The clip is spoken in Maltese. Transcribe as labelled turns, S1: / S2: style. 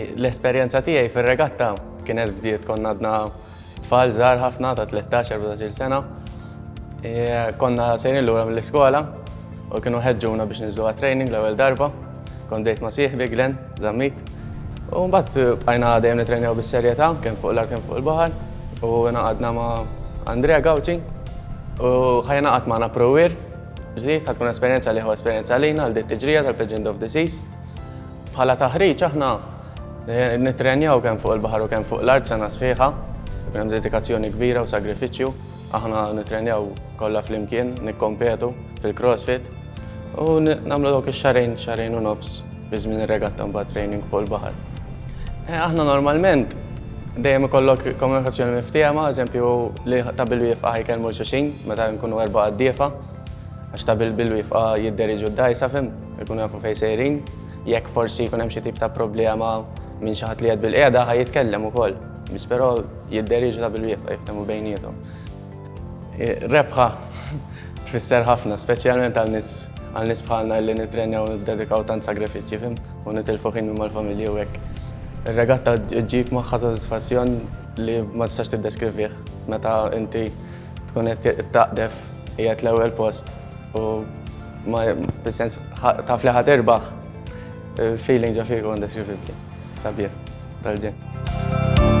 S1: L-esperjenza tiegħi fir-regatta kienet bdiet konna għadna tfal żgħar ħafna ta' 13-14 sena. E, konna sejrin lura mill-iskola u kienu ħeġġuna biex niżlu għat-training l-ewwel darba. Kont dejt ma' sieħbi Glenn Zammit. U mbagħad bqajna dejjem nitrejnew bis-serjetà kemm fuq l-art kemm fuq il-baħar u naqadna ma' Andrea Gawċi u ħajna qatt magħna Pruwir ġdid ħatkun esperjenza liħu esperjenza lina għal dit tiġrija tal-Legend of the Seas. Bħala taħriġ aħna nittrenjaw kemm fuq il-baħar u kemm fuq l-art sena sħiħa, ikun hemm dedikazzjoni kbira u sagrifiċċju. Aħna nittrenjaw kollha flimkien, nikkompetu fil-CrossFit u nagħmlu dawk ix-xarejn, xarejn u nofs fi żmien ir-regatta mbagħad training fuq il-baħar. Eh, aħna normalment dejjem ikollok komunikazzjoni miftiema, eżempju li ta' bil-wifqa jkellmu l-xuxin meta nkunu erba' għaddiefa, għax ta' bil-wifqa jidderiġu d-dajsa fim. Ikunu jafu fejn sejrin, jekk forsi jkun hemm xi tip ta' problema minn xi ħadd li qed bil-qiegħda ħaj jitkellem ukoll. Biss però jidderiġu ta' bil-wieqfa jiftehmu bejniethom. Rebħa tfisser ħafna, speċjalment għal nies għal nies bħalna li nittrenjaw niddedikaw tant sagrifiċċji fim u nitilfu ħin minn mal-familji u hekk. Ir-regatta ġġib magħha sodisfazzjon li ma tistax tiddeskrivih meta inti tkun qed taqdef qiegħed l-ewwel post U ma bis-sens taf li ħad erbaħ il-feeling ġa fiku indeskrivibli. Sabieħ, tal-ġen.